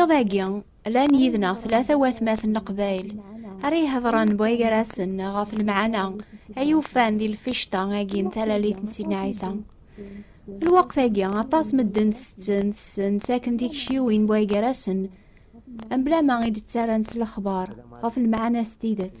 Iḍ-agi, llan yid-neɣ tlata watmaten n Leqbayel ara ihedṛen buygarasen ɣef lemɛana ay ufan di lficṭa-agi n talalit n Sidna Ɛisa. Lweqt-agi, aṭas medden ttetten, tessen, ttaken tikciwin buygarasen, mebla ma i d-ttarran s lexbar ɣef lemɛana s tidet.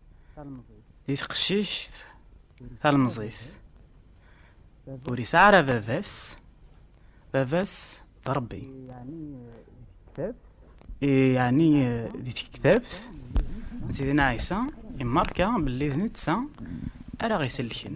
di teqcict talemẓit ur yesɛi ara baba-s baba-s d Rebbi yeɛni di tektabt n Sidina Ɛisa imerka belli d netta ara ɣ-isellken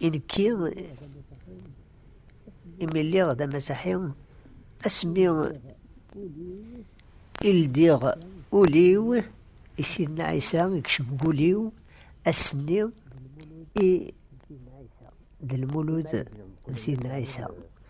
I nekki, imi lliɣ d amasaḥi, asmi i ldiɣ ul-iw i Sidna Ɛisa, ikcem deg ul-iw, ass-nni i d lmulud n Sidna Ɛisa.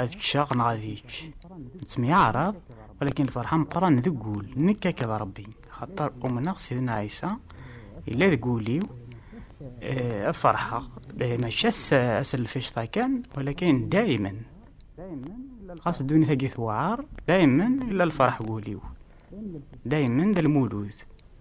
ad ččeɣ neɣ ad ičč nettemyaɛrab walakin lferḥa meqqran deg wul nekk akked Rebbi xaṭer umneɣ Sidna Ɛisa yella deg wul-iw eh, ad ferḥeɣ eh, mačči ass n lficṭa kan walakin daymen xas ddunit-agi tewɛer daymen illa lferḥ wul-iw daymen d lmulud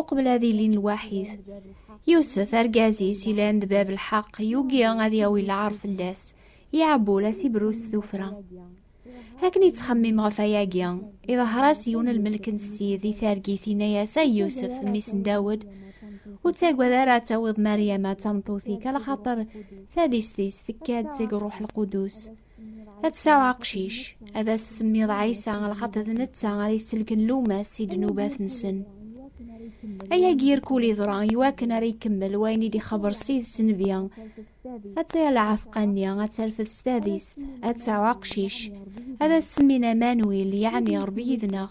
uqbel ad ilin lwaḥid. Yusef, argaz-is ilan d bab lḥeq, yugi ad yawi lɛar fell-as, iɛebbu la sibru s tufra. Akken yettxemmim ɣef ayagi, iḍher-as yiwen lmelk n ssid i targit inna-as ay Yusef, mmi-s n Dawed, ur ttagad ara ad tawiḍ Maryama d tameṭṭut-ik, ala xaṭer tadist-is tekka-d seg Ṛṛuḥ Lqudus. ad tesɛu aqcic ad as-semmiḍ ɛisa lxaṭer d netta ara iselken lumas i ddnubat-nsen ayagi irkul iḍra iwakken ara ikemmel wayen i d-ixeber s ides nnbi ad taya lɛatqa-nni ad terfed s tadist ad tesɛu aqcic ad as-semmin amanwil yeɛni ṛebbi yid-neɣ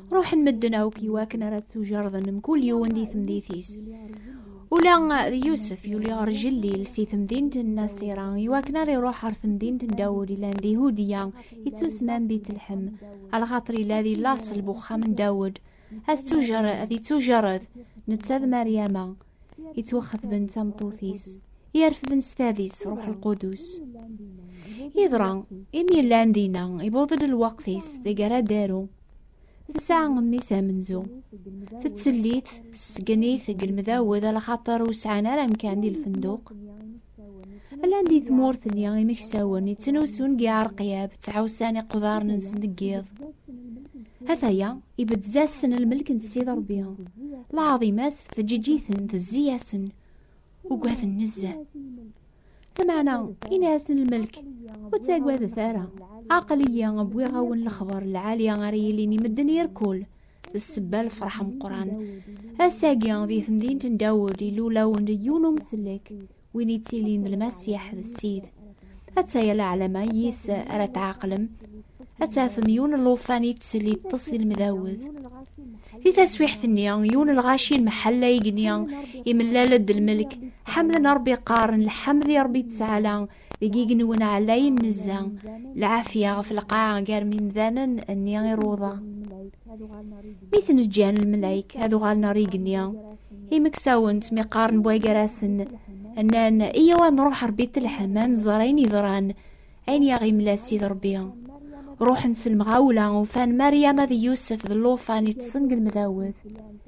ruḥen medden akk iwakken ara ttujerden mkul yiwen di temdit-is ula d yusef yuli ɣer jellil si temdint n nasira iwakken ara iruḥ ɣer temdint n dawud ilan di hudiya ittusman bitelḥem alxaṭer ila di laṣel bu uxxam n dawud ad ttujerred netta d maryama yettwaxatben d tameṭṭut-is yerfden s tadis ruḥ lqudus yeḍra imi llan dinna ibuḍ-d lweqt-is deg ara daru tesɛa mmi-s amenzu tettellit tesgen-it deg lmedawed ala xaṭer ur sɛan ara amkan di lfenduq Llan di tmurt-nni imeksawen yettnusun deg Iɛerqiyab, ttɛussan iqudaren-nsen deg yiḍ. Ataya, ibedd-as-sen lmelk n Ssid Ṛebbi. Lɛaḍima-s tfeǧǧiǧ-iten, tezzi-yasen, ugaden nezzeh. Lameɛna, ini-asen lmelk, ur ttagadet ara. Aql-iyi wwiɣ-awen lexbar n lɛali ara yilin i medden irkul. d sebba lefreḥ meqqran ass-agi di temdint n dawed ilulawen yiwen umsellek win yettilin d lmasiḥ d ssid atta yal ɛlama yis ara tɛaqlem ad tafem yiwen n lufan yettell yeṭṭes di lmdawed di taswiḥt-nni yiwen n lɣaci n mḥalla igenni imellal-d lmelk ḥamden rebbi qqaren lḥamd i rebbi ttɛala deg igenwen ɛlayen nezza lɛafya ɣef lqaɛa gar mimdanen nni iruḍa mi ten-ǧǧan lmelayk ad uɣalen ɣer igenni imeksawen ttmiqaren bwagarasen nnan iyaw ad nruḥ rebbi telḥem ad nẓer ayen yeḍran ayen yaɣ-imla sid rebbi ruḥen s lemɣawla ufan maryam ad yusef d llufan iṭṭsen deg lmdawet